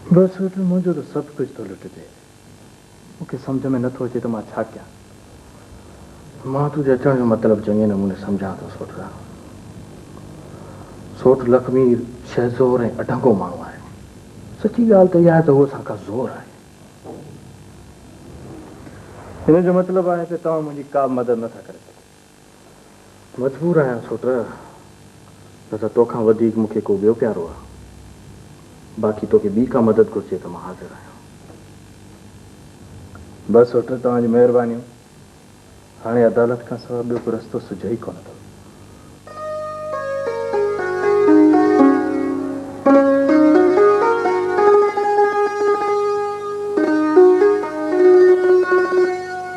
بس ويٺل منهنجو ته سڀ ڪجهه ٿو لٽجي. مون کي سمجهه ۾ نه ٿو اچي ته مان ڇا ڪيان. مان تنهنجي اچڻ جو مطلب چڱي نموني سمجهان ٿو سوٽ رام. سوٽ لکمير شهزور ۽ اڍنگو ماڻهو آهي. سچي ڳالهه ته اها آهي ته هو اسان کان زور آهي. ان جو مطلب آهي ته توهان منهنجي ڪابه مدد نه ٿا ڪري سگهو. مجبور آهيان ڇو ته نه ته توکان وڌيڪ مون کي ڪو ٻيو پيارو آهي. باقي توکي ٻي ڪا مدد گهرجي ته مان حاضر آهيان. بس سوٽر توهان جون مهربانيون. هاڻي عدالت کان سواء ٻيو ڪو رستو سجهي ئي ڪونه ٿو.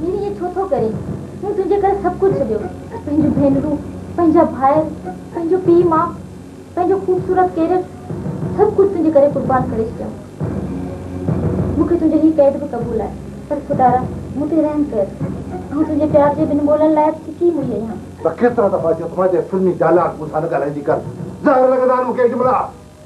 ميري ائين ڇو ٿو ڪرين؟ مون تنهنجي ڪري سڀ ڪجهه ڇڏيو، پنهنجون ڀينرون، پنهنجا ڀائر، پنهنجو پيء ماء، پنهنجو خوبصورت ڪيريئر، سڀ ڪجهه تنهنجي ڪري قربان ڪري ڇڏيم. مون کي تنهنجو هي قيد به قبول آهي، پر خدارا مون تي رحم ڪر. آئون تنهنجي پيار جي ٻن ٻولن لاء به ڪي موئي آهيان. ته ڪيترا دفعا چيو ته مانجي فلمي ڊائلاگ مون سان نه ڳالهائيندي ڪر. زهر لڳندا آهن مون کي اجملا.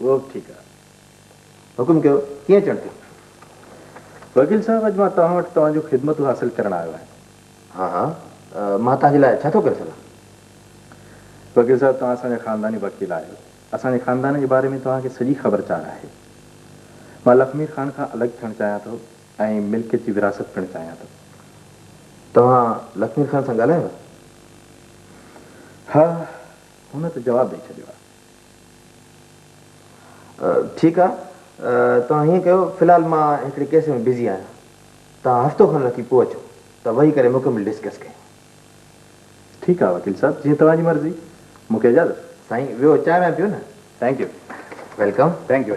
اهو به ٺيڪ آهي. حڪم ڪيو، ڪيئن اچڻ ٿيو؟ وڪيل صاحب، اڄ مان توهان وٽ توهان جون خدمتون حاصل ڪرڻ آيو آهيان. ها ها، مان توهان جي لاء ڇا ٿو ڪري سگهان؟ وڪيل صاحب، توهان اسان جا خانداني وڪيل آهيو. اسان جي خاندان جي باري ۾ توهان کي سڄي خبر چار آهي. مان لکمير خان کان الڳ ٿيڻ چاهيان ٿو ۽ ملڪيت جي وراثت پڻ چاهيان ٿو. توهان لکمير خان سان ڳالهايو آهي؟ ها، هن ته جواب ڏئي ڇڏيو آهي. ٺيڪ آ توهان هيئن ڪيو في الحال مان هڪڙي ڪيس ۾ بزي آهيان توهان هفتو کن رکي پوء اچو ته ويهي ڪري مڪمل ڊسڪس ڪيون. ٺيڪ آ وڪيل صاحب جيئن توهان جي مرضي مون کي اجازت. سائين ويهو چانهه وانهه پيو نه. Thank you. Welcome. Thank you.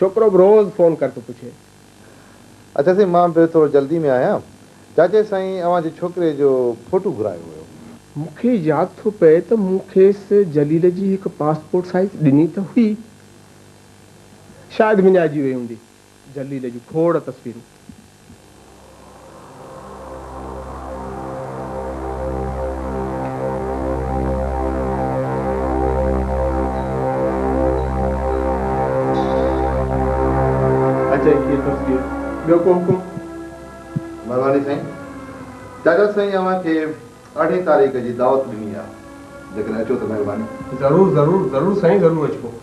ڇوڪرو به روز فون ڪر ٿو پڇي. اڇا سائين مان به ٿورو جلدي ۾ آهيان. چاچي سائين اوهان جي ڇوڪري جو ڦوٽو گهرايو هيو. مون کي ياد ٿو پئي ته مون کيس جليل جي هڪ پاسپورٽ سائيز ڏني ته هئي. شايد وڃائجي وئي هوندي. جليل جون کوڙ تصويرون. ٻيو ڪو حڪم؟ مھرباني سائين. ڊاڪٽر سائين اوھان کي ارڙھين تاريخ جي دعوت ڏني آ جيڪڏھن اچو ته مھرباني. ضرور ضرور ضرور سائين ضرور اچبو.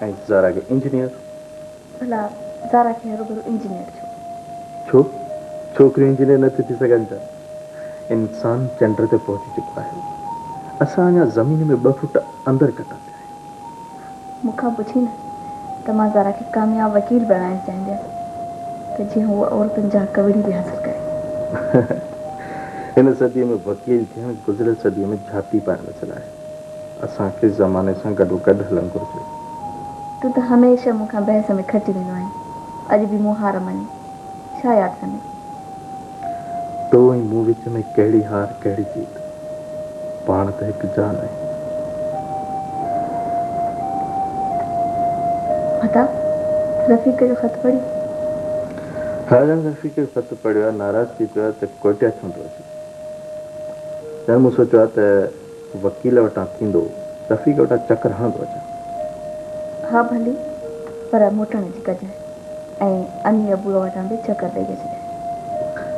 ۽ زارا کي انجنيئر. ڀلا زارا کي هروڀرو انجنيئر ڇو؟ ڇو ڇوڪريون انجنيئر نٿيون ٿي سگهن ته؟ انسان چنڊ تي پهچي چڪو آهي. اسان اڃا زمين ۾ ٻه فوٽ اندر ڪٽا پيا آهيون. مون کان پڇين ها ته مان زارا کي ڪامياب وڪيل بڻائڻ چاهينديس ته جيئن هوء عورتن جا حق وڙهي به حاصل ڪري. هن صديء ۾ وڪيل ٿيڻ گذريل صديء ۾ جهاتي پائڻ مثل آهي. اسان کي زماني سان گڏوگڏ هلڻ گهرجي. تون ته هميشه مون کان بحث ۾ کٽي ويندو آهين. اڄ به مون هار مڃي. ڇا ياد ڪندين؟ تو ۽ مون وچ ۾ ڪهڙي هار ڪهڙي جيت. پاڻ ته هڪ جان آهيون. مھتاب رفيق جو خط پڙهيو. راجن رفيق جو خط پڙهيو آهي. ناراض ٿي پيو آهي ته ڪوئٽه ڇو نه ٿو اچين. ڄڻ مون سوچيو آهي ته. وڪيل وٽان ٿيندو رفيق وٽان چڪر هڻندو اچان. ها ڀلي، پر موٽڻ جي ڪجانء ۽ اني ابوء وٽان به چڪر ڏئي اچجانء.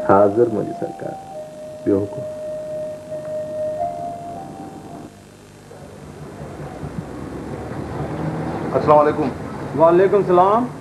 حاضر منهنجي سرڪار، ٻيو حڪم. السلام عليڪم. وعليڪم السلام.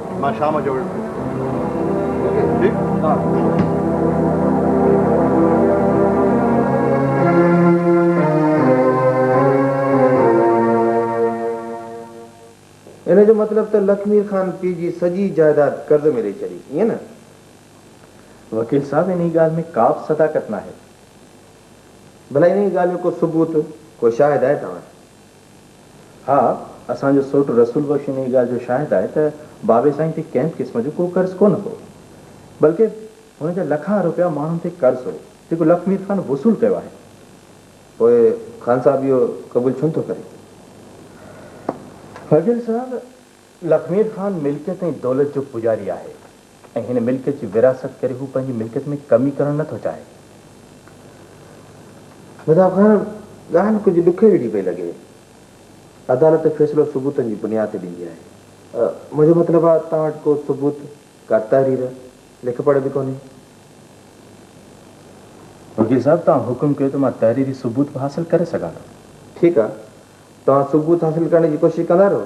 مان شام جو ويٺس ان جو مطلب ته لکمير خان پي جي سڄي جائداد قرض ۾ ڏئي ڇڏي ائين نه؟ وڪيل صاحب انهي ڳالهه ۾ ڪابه صداقت ناهي. ڀلا انهي ڳالهه جو ڪو ثبوت، ڪو شاهد آهي توهان ها اسان جو سوٽ رسول بخش انهيء ڳالهه جو شاهد آهي ته بابي سائين تي ڪنهن به قسم جو ڪو قرض ڪونه هو بلڪه هن جا لکان روپيا ماڻهن تي قرض هو جيڪو لک مير خان وصول ڪيو آهي. پوء خان صاحب اهو قبول ڇونه ٿو ڪري؟ فضل صاحب لکمير خان ملڪيت ۽ دولت جو پوڄاري آهي ۽ هن ملڪيت جي ورهاست ڪري هو پنهنجي ملڪيت ۾ ڪمي ڪرڻ نه ٿو چاهي. مهتاب خان، ڳالهه ڪجهه ڏکي جهڙي پئي لڳي. عدالت فيصلو ثبوتن جي بنياد تي ڏيندي آهي. منهنجو مطلب آهي توهان وٽ ڪو ثبوت، ڪا تحرير، لک پڙهه به ڪونهي. وڪيل صاحب، توهان حڪم ڪيو ته مان تحريري ثبوت به حاصل ڪري سگهان ٿو. ٺيڪ آهي. توهان ثبوت حاصل ڪرڻ جي ڪوشش ڪندا رهو.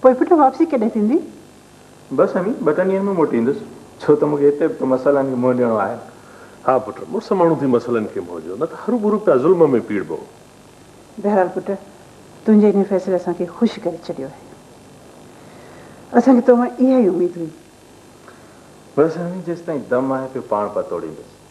پوء پٽ واپسي ڪڏهن ٿيندي؟ بس امي، ٻه ٽن ڏينهن ۾ موٽي ايندس، ڇو ته مون کي هتي به ته مسئلن کي منهن ڏيڻو آهي. ها پٽ، مڙس ماڻهو ٿي مسئلن کي منهن ڏيو، نه ته هروڀرو پيا ظلم ۾ پيڙبئو. بهرحال پٽ، تنهنجي انهيء فيصلي اسان کي خوش ڪري ڇڏيو آهي. اسان کي تو مان اها ئي اميد هئي. بس امي، جيستائين دم آهي پيو پاڻ پتوڙيندس.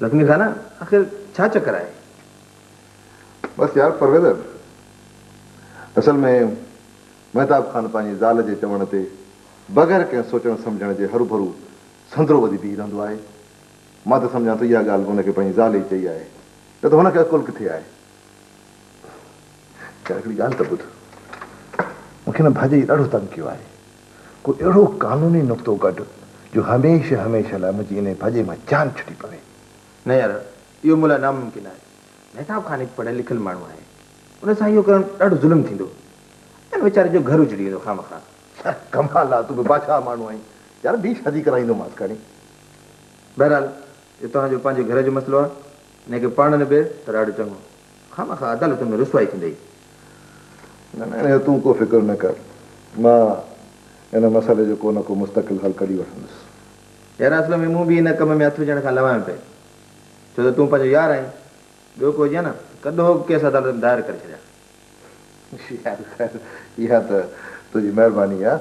لکمي خان آخر ڇا چڪر آهي؟ بس يار پرويز اصل ۾ مهتاب خان پنهنجي زال جي چوڻ تي بغير ڪنهن سوچڻ سمجهڻ جي هروڀرو سندرو وڌي بيهي رهندو آهي. مان ته سمجهان ٿو اها ڳالهه به هن کي پنهنجي زال ئي چئي آهي نه ته هن کي عقل ڪٿي آهي. يار هڪڙي ڳالهه ته ٻڌ مون کي هن ڀاڄي جي ڏاڍو تنگ ڪيو آهي. ڪو اهڙو قانوني نقطو ڪڍ جو هميشه هميشه لاء منهنجي انهيء ڀڄي مان جان ڇٽي پوي. نه يار، اهو مون لاء ناممڪن آهي. مهتاب خان هڪ پڙهيل لکيل ماڻهو آهي. ان سان اهو ڪرڻ ڏاڍو ظلم ٿيندو. ان ويچاري جو گهر اجڙي ويندو خامخواه. ڇا ڪمال آ، تون به بادشاهه ماڻهو آهين. يار ٻي شادي ڪرائيندومانس کڻي. بهرحال اهو توهان جو پنهنجي گهر جو مسئلو آ. انهيء کي پاڻ نبيڙ ته ڏاڍو چڱو. خامخواه عدالتن ۾ رسوائي ٿيندئي. نه نه انهيء تون ڪو فڪر نه ڪر. مان ان مسئلي جو ڪو نه ڪو مستقل حل ڪڍي وٺندس. يار اصل ۾ مون به ان ڪم ۾ هٿ وجهڻ کان لوايم پئي. ڇو ته تون پنهنجو يار آهين. ٻيو ڪو هجي ها نه ته ڪڏهن هوڪ ڪيس عدالت ۾ دائر ڪري ڇڏيان ها. يار خير اها ته تنهنجي مهرباني آهي.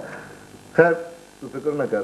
خير تون فڪر نه ڪر.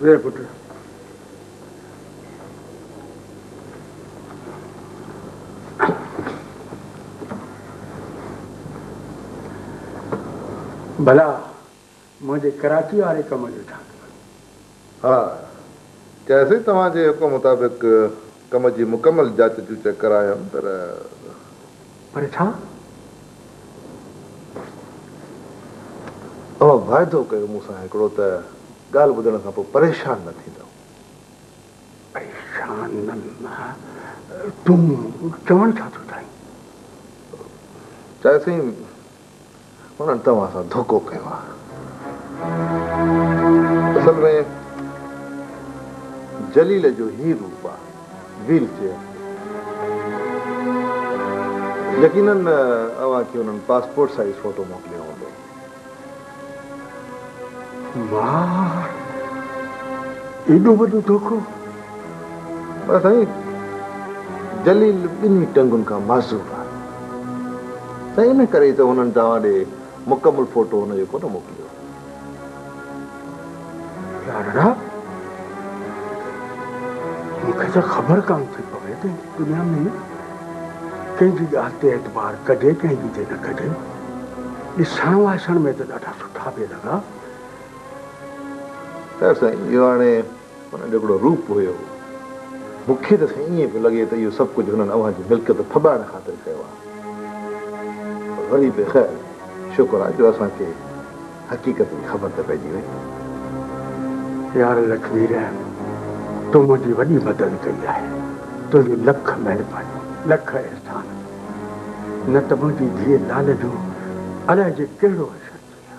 ويهه پٽ. ڀلا منهنجي ڪراچي واري ڪم جو ڇا ٿيو؟ ها، چياسين توهان جي حڪم مطابق ڪم جي مڪمل جاچ جوچ ڪرايم پر. پر ڇا؟ اوهان واعدو ڪيو مون سان هڪڙو ته ڳالهه ٻڌڻ کان پوء پريشان نه ٿيندؤ. پريشان نه نه، تون چوڻ ڇا ٿو چاهين؟ چياسين. انهن توهان سان ڌوڪو ڪيو آهي. اصل ۾ جليل جو هي روپ آهي، ويل چيئر. يقيناً اوهان کي انهن پاسپورٽ سائيز فوٽو موڪليو هوندو. واهه! ايڏو وڏو ڌوڪو! پر سائين جليل ٻنهي ٽنگن کان معذور آهي. سائين ان ڪري ئي ته هنن توهان ڏي مڪمل فوٽو هن جو ڪونه موڪليو. لاڏڙا مون کي ته خبر ڪانه ٿي پوي ته هن دنيا ۾ ڪنهن جي ڳالهه تي اعتبار ڪجي ڪنهن جي تي نه ڪجي. ڏسڻ واسڻ ۾ ته ڏاڍا سٺا پئي لڳا. خير سائين اهو هاڻي انهن جو هڪڙو روپ هيو. مون کي ته سائين ائين پيو لڳي ته اهو سڀ ڪجهه هنن اوهان جي ملڪيت ڦٻائڻ خاطر ڪيو آهي. پر وري به خير شڪر آهي جو اسان کي حقيقت جي خبر ته پئجي وئي. يار لطفي رحم تون منهنجي وڏي مدد ڪئي آهي. تنهنجون لک مهربانيون لک احسان. نه ته منهنجي ڌيء لالي جو الائي جي ڪهڙو حشر ٿئي ها.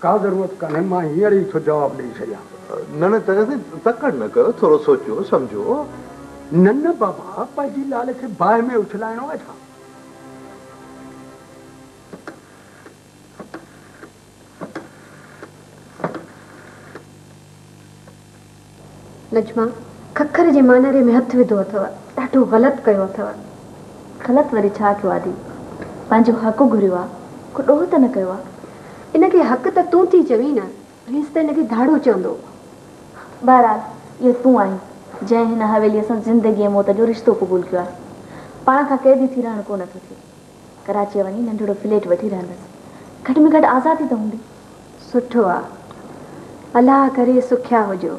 ڪا ضرورت ڪانهي، مان هينئر ئي ٿو جواب ڏيئي ڇڏيان. نه نه چڱي سائين، تڪڙ نه ڪيو، ٿورو سوچيو سمجهيو. نه نه بابا، پنهنجي لال کي باهه ۾ اڇلائڻو آهي ڇا؟ نجمه ککر جي مانيري ۾ هٿ وڌو اٿو. ڏاڍو غلط ڪيو اٿو. غلط وري ڇا ڪيو آدي. پنهنجو حق گهريو آ. ڪو ڏوهه ته نه ڪيو آ. ان کي حق ته تون ٿي چوين نه. پوليس ته ان کي ڌاڙو چوندو. بهرحال اهو تون آهين جنهن هن حويليء سان زندگي ۽ موت جو رشتو قبول ڪيو آ. پاڻ کان قيدي ٿي رهڻ ڪو نه ٿو ٿئي. ڪراچيء وڃي ننڍڙو فليٽ وٺي رهندس. گهٽ ۾ گهٽ آزادي ته هوندي. سٺو آ. الله ڪري سکيا هجو.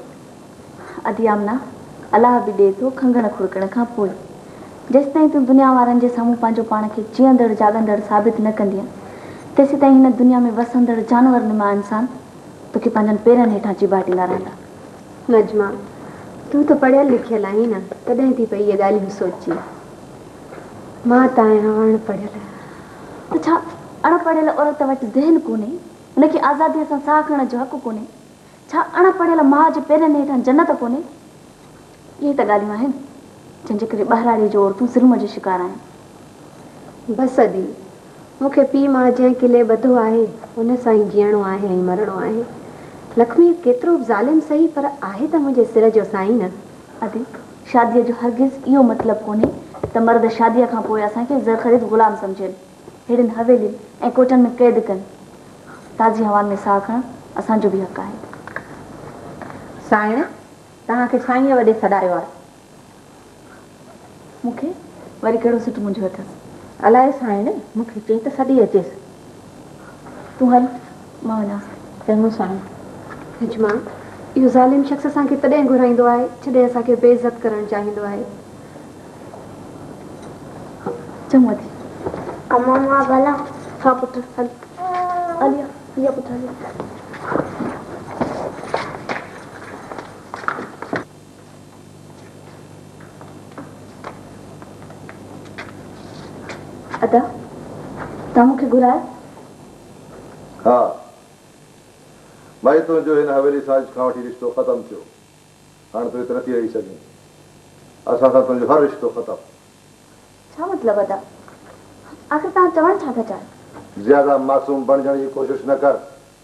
ادي آمنه، الله به ڏئي ٿو کنگهڻ کڙڪڻ کان پوء. جيستائين تون دنيا وارن جي سامهون پنهنجو پاڻ کي جيئندڙ جاڳندڙ ثابت نه ڪندينء، تيسيتائين هن دنيا ۾ وسندڙ جانور نما انسان توکي پنهنجن پيرن هيٺان چيڀاٽيندا رهندا. نجمه، تون ته پڙهيل لکيل آهين نه، تڏهن ٿي پئي اهي ڳالهيون سوچين. مان ته آهيان اڻ پڙهيل. ته ڇا اڻ پڙهيل عورت وٽ ذهن ڪونهي؟ ان کي آزاديء سان ساهه کڻڻ جو حق ڪونهي؟ ڇا اڻ پڙهيل ماء جي پيرن هيٺان جنت ڪونهي؟ اهي ئي ته ڳالهيون آهن، جن جي ڪري ٻهراڙيء جون عورتون ظلم جو شڪار آهن. بس ادي، مون کي پيء ماء جنهن قلعي ٻڌو آهي، ان سان ئي جيئڻو آهي ۽ مرڻو آهي. لکميء ڪيترو به ظالم سهي، پر آهي ته منهنجي سر جو سائين نه! عتيق، شاديء جو هرگز اهو مطلب ڪونهي ته مرد شاديء کان پوء اسان کي زر خريد غلام سمجهن، ههڙين حويلين ۽ ڪوٽن ۾ قيد ڪن. تازي هوائن ۾ ساهه کڻڻ اسان جو به حق آهي. سائڻ، توهان کي سائينء وڏي سڏايو آهي. مون کي وري ڪهڙو سٽ منجهيو اٿس؟ الائي سائڻي مون کي چئي ته سڏي اچيس. تون هل مان وڃان ٿي. چڱو سائڻ. حجما، اهو ظالم شخص اسان کي تڏهن گهرائيندو آهي، جڏهن اسان کي بي عزت ڪرڻ چاهيندو آهي. چڱو اٿي. امان، مان به هلان؟ ها پٽ هل. عليء، هيء پٽ هلي. ادا توهان مون کي گهرايو؟ ها ڀائي تنهنجو هن حويلي سازش کان وٺي رشتو ختم ٿيو هاڻ تون هت نٿي رهي سگهين اسان سان تنهنجو هر رشتو ختم. ڇا مطلب ادا آخر توهان چوڻ ڇا ٿا چاهيو؟ زياده معصوم بڻجڻ جي ڪوشش نه ڪر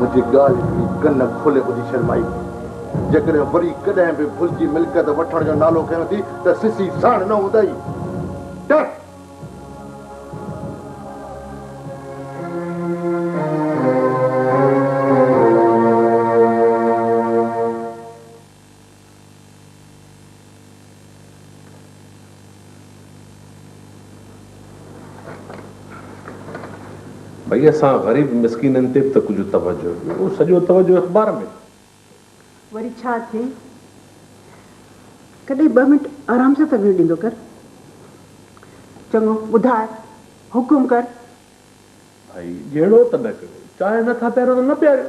منهنجي ڳالهه جي ڪن کولي ٻڌي شرمائي وئي. جيڪڏهن وري ڪڏهن به ڀلجي ملڪيت وٺڻ جو نالو کنيو ٿي ته سسي ساڻ نه هوندئي. ٽر! ڀئي اسان غريب مسڪينن تي به ته ڪجهه توجهه ڏيو. سڄو توجهه اخبار ۾. وري ڇا ٿئي؟ ڪڏهن ٻه منٽ آرام سان ته ويهڻ ڏيندو ڪر. چڱو، ٻڌاء، حڪم ڪر. ڀئي جهيڙو ته نه ڪريو. چانهه نه ٿا پياريو ته نه پياريو.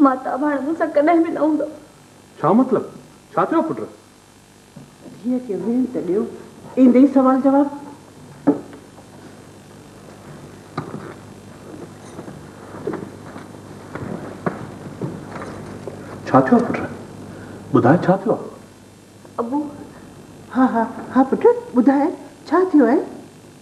ماتاب هاڻي مون سان ڪڏهن به نه هوندو. ڇا مطلب؟ ڇا ٿيو پٽ؟ ڌيء کي ويهڻ ته ڏيو. ايندي ئي سوال جواب. ڇا ٿيو پٽ؟ ٻڌاء ڇا ٿيو آهي؟ ابو، ها ها ها پٽ ٻڌاء ڇا ٿيو آهي؟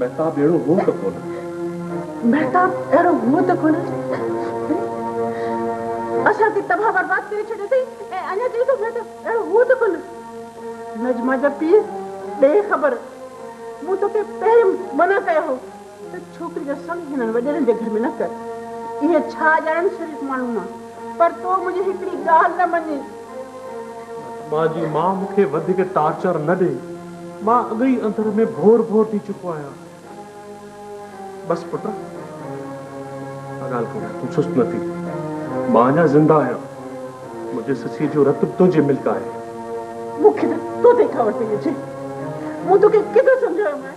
مهتاب اهڙو هو ته ڪونه. مهتاب اهڙو هو ته ڪونه. اسان کي تباهه برباد ڪري ڇڏيو اٿئي ۽ اڃا چئي ٿو مهتاب اهڙو هو ته ڪونه. نجمه جا پيء بي خبر. مون توکي پهرين منع ڪيو هو ته ڇوڪري جو سڱ هنن وڏيرن جي گهر ۾ نه ڪر. اهي ڇا ڄاڻن شريف ماڻهو مان. پر تو منهنجي هڪڙي ڳالهه نه مڃي. ماجي مان مون کي وڌيڪ ٽارچر نه ڏي. مان اڳ ئي اندر ۾ ڀور ڀور ٿي چڪو آهيان. بس پٽ، ڪا ڳالهه ڪونهي، تون سست نه ٿي. مان اڃا زنده آهيان. منهنجي سسيء جو رت به تنهنجي ملڪ آهي. مون کي ته تو تي خبر پئي اچي. مون توکي ڪيترو سمجهايومانء.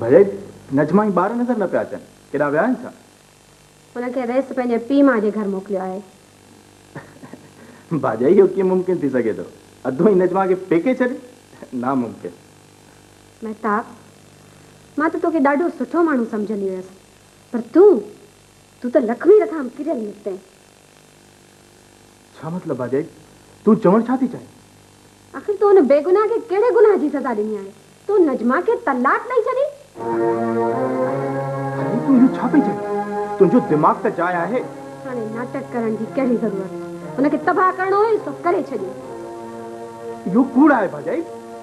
ڀلي نجمه جي ٻار نظر نه پيا اچن ڪيڏانهن ويا آهن ڇا؟ هن کي ريس پنهنجي پيء ماء جي گهر موڪليو آهي. باجا اهو ڪيئن ممڪن ٿي سگهي ٿو؟ اڌو هي نجمه کي پيڪي ڇڏي؟ ناممڪن. مهتاب مان ته توکي ڏاڍو سٺو ماڻهو سمجهندي هيس پر تون، تون ته لک ميل کان به ڪريل نڪتين. ڇا مطلب ڀاڄائي؟ تون چوڻ ڇا ٿي چاهين؟ آخر تو ان بيگناهه کي ڪهڙي گناهه جي سزا ڏني آهي؟ تو نجمه کي طلاق ڏئي ڇڏي؟ ڀاڄائي تون اهو ڇا پئي چوين؟ تنهنجو دماغ ته جاء آهي. هاڻي ناٽڪ ڪرڻ جي ڪهڙي ضرورت؟ هن کي تباهه ڪرڻو هيس سو ڪري ڇڏيو. اهو ڪوڙ آهي ڀاڄائي.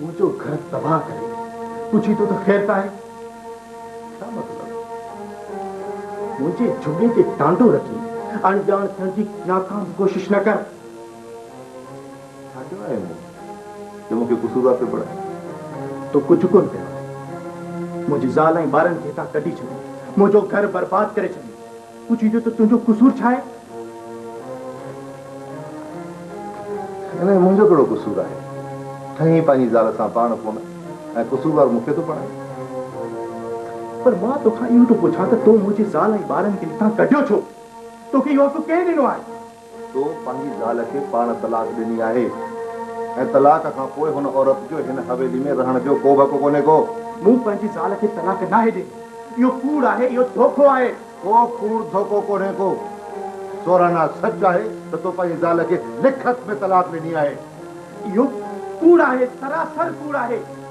منهنجو گهر تباهه ڪري پڇي ٿو ته خير ته آهي ڇا مطلب منهنجي جهڳي تي ٽانڊو رکي اڻڄاڻ ٿيڻ جي ناڪام ڪوشش نه ڪر ڇا ڪيو آهي مون جو مون کي قصوروار پيو بڻائي تو ڪجهه ڪونه ڪيو آهي منهنجي زال ۽ ٻارن کي هتان ڪڍي ڇڏي منهنجو گهر برباد ڪري ڇڏي تون چويندين ته تنهنجو قصور ڇا آهي؟ ان ۾ منهنجو ڪهڙو قصور آهي؟ ٺهين پنهنجي زال سان پاڻ ڪونه ۽ قصوروار مون کي ٿو بڻائين؟ پر مان توکان اهو ٿو پڇان ته تو منهنجي زال ۽ ٻارن کي هتان ڪڍيو ڇو؟ توکي اهو حق ڪنهن ڏنو آهي؟ تو پنهنجي زال کي پاڻ طلاق ڏني آهي ۽ طلاق کان پوء هن عورت جو هن حويلي ۾ رهڻ جو ڪو به حق ڪونهي ڪو. مون پنهنجي زال کي طلاق ناهي ڏني. اهو ڪوڙ آهي، اهو ڌوڪو آهي. ڪو ڪوڙ ڌوڪو ڪونهي ڪو. سورهانا سچ آهي ته تو پنهنجي زال کي لکت ۾ طلاق ڏني آهي. اهو ڪوڙ آهي، سراسر ڪوڙ آهي.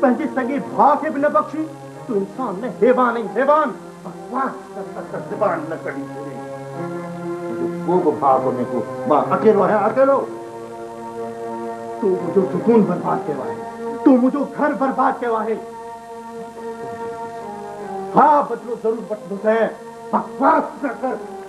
پنهنجي سڳي ڀاء کي به نه بخشي، تون انسان نه حيوان آهين حيوان. بڪواس ڪر ته ته زبان نه ڪڍي ڇڏي. منهنجو ڪو به ڀاء ڪونهي ڪو مان اڪيلو آهيان اڪيلو. تون منهنجو سڪون برباد ڪيو آهي تون منهنجو گهر برباد ڪيو آهي. ها بدلو ضرور وٺندوسين. بڪواس نه ڪر.